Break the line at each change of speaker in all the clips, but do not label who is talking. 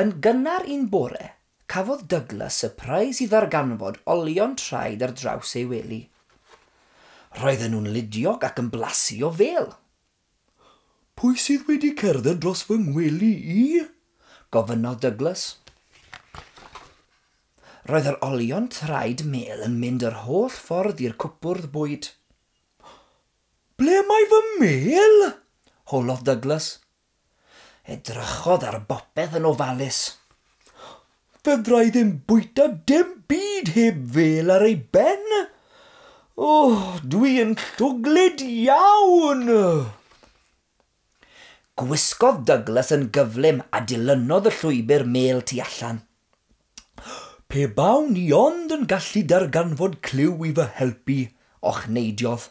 Yn gynnar un bore, cafodd Douglas sypreis i ddarganfod olion traed ar draws ei wely. Roedden nhw'n ludiog ac yn blasu o fêl. Pwy sydd wedi cerdded dros fy ngwely i? gofynnodd Douglas. Roedd yr olion traed mêl yn mynd yr holl ffordd i'r cwpwrdd bwyd. Ble mae fy mêl? howlodd Douglas. Edrychodd ar bopeth yn ofalus. Fedra i ddim bwyta dim byd heb fel ar ei ben! O, dwi yn llwglyd iawn! Gwisgodd Douglas yn gyflym a dilynodd y llwybr mêl tu allan. Pe bawn i ond yn gallu darganfod clyw i fy helpu, ochneidiodd.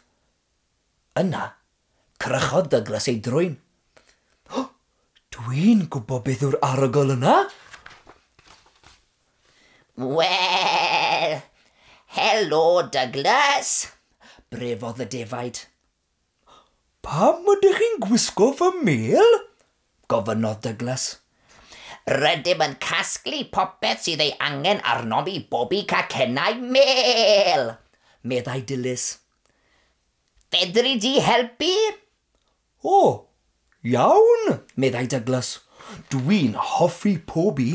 Yna, crychodd Douglas ei drwyn. O! Dwi'n gwybod beth yw'r arogl yna!
Wel! Helo, Douglas! brefodd y defaid.
Pam ydych chi'n gwisgo fy mêl? gofynnodd Douglas.
Rydym yn casglu popeth sydd ei angen arnom i bobi cacennau mêl! meddai
Dilys.
Fedri di helpu? O,
iawn, meddai Douglas. Dwi'n hoffi pobi.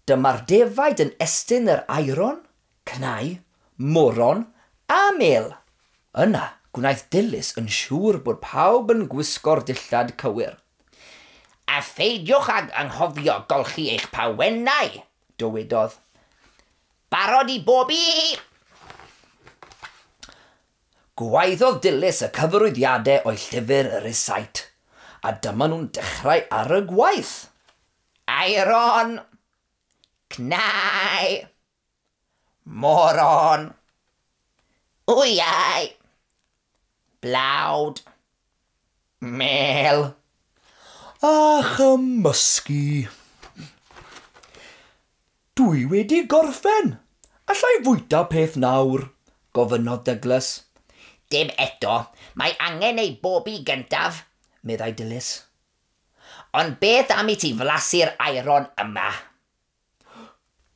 Dyma'r defaid yn estyn yr aeron, cnau, moron a mêl. Yna, gwnaeth Dilys yn siŵr bod pawb yn gwisgo'r dillad cywir. A
pheidiwch ag anghofio golchi eich pawennau, dywedodd. Barod i bob un!
Gwaeddodd Dilys y cyfarwyddiadau o'i llyfr Recite, a dyma nhw'n dechrau ar y gwaith! Aeron!
Cnau! Moron! Wyau! Blawd! Mêl.
A chymysgu. Dwi wedi gorffen! Alla i fwyta peth nawr? gofynnodd Dyglas. Dim
eto, mae angen ei bobi gyntaf, meddai Dilys. Ond beth am i ti flasu'r aeron yma?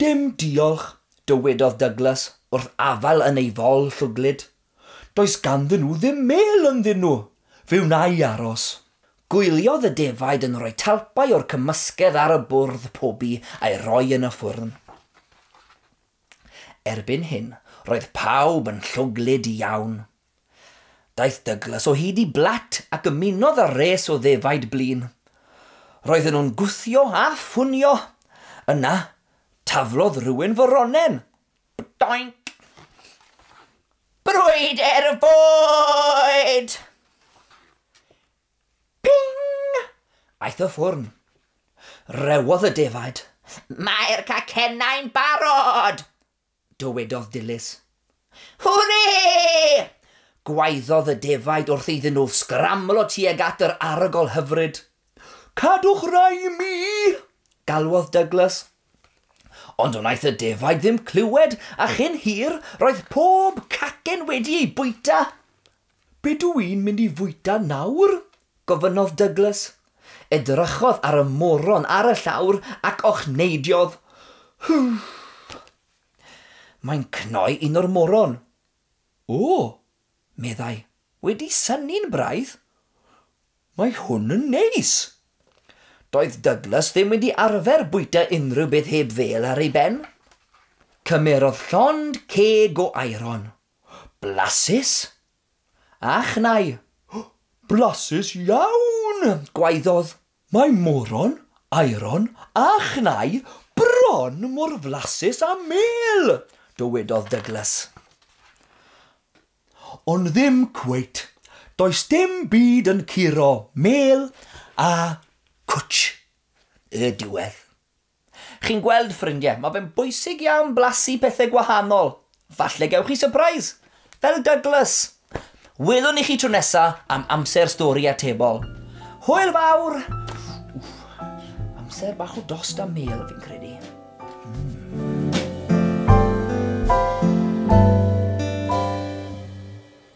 Dim diolch, dywedodd Douglas wrth afael yn ei fol llwglyd. Does ganddyn nhw ddim mêl ynddyn nhw. Fe wna i aros. Gwyliodd y defaid yn rhoi talpau o'r cymysgedd ar y bwrdd pobi a'i roi yn y ffwrn. Erbyn hyn, roedd pawb yn llwglyd iawn. Daeth Douglas o hyd i Blatt ac ymunodd â'r res o ddefaid blin. Roedden nhw'n gwthio a ffunio. Yna, taflodd rhywun fy ronen. Bdoinc!
Brwydr y fwyd!
Ping! Aeth y ffwrn. Rewodd y defaid. Mae'r
cacennau'n barod! Dywedodd
Dilys. Hwrê!
gwaeddodd y
defaid wrth iddyn nhw sgramlo tuag at yr arogl hyfryd. Cadwch rai i mi! galwodd Douglas. Ond wnaeth y defaid ddim clywed a chyn hir roedd pob cacen wedi ei bwyta. Be dw i'n mynd i fwyta nawr? Gofynnodd Douglas. Edrychodd ar y moron ar y llawr ac ochneidiodd, Huff! Mae'n cnoi un o'r moron. O! meddai. Wedi synnu'n braidd. Mae hwn yn neis! Doedd Douglas ddim wedi arfer bwyta unrhyw beth heb fêl ar ei ben. Cymerodd llond ceg o aeron. Blasus! A chnau! O! Blasus iawn! gwaeddodd. Mae moron, aeron, a chnau bron mor flasus â mêl! dywedodd Douglas. Ond ddim cweit. Does dim byd yn curo mêl a cwtsh y diwedd. Chi'n gweld, ffrindie, mae fe'n bwysig iawn blasu pethe gwahanol. Falle gewch chi sypreis! Fel Douglas! Welwn ni chi tro nesa am amser stori atebol. Hwyl fawr! Wff, amser bach o dost a mêl, fi'n credu.